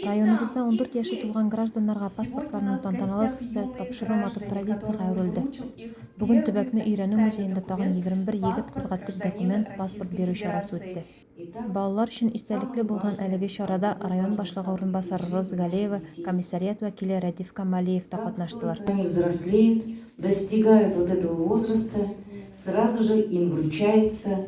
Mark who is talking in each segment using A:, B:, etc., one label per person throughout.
A: Районыбызда ундүрт яше тулган гражданнарга паспортларның тантаналы төстә тапшыру матур традициягә әверелде. Бүген төбәкне өйрәнү музеенда тагын егерме бер егет-кызга төп документ, паспорт бирү чарасы үтте. Балалар өчен истәлекле булган әлеге чарада район башлыгы урынбасары Роза Галеева, комиссариат вәкиле Рәдиф Камалиев та катнаштылар. Они взрослеют, достигают вот этого возраста, сразу же им вручается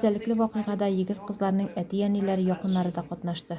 A: истәлекле вакыйгада егет-кызларның әти-әниләре, якыннары да катнашты.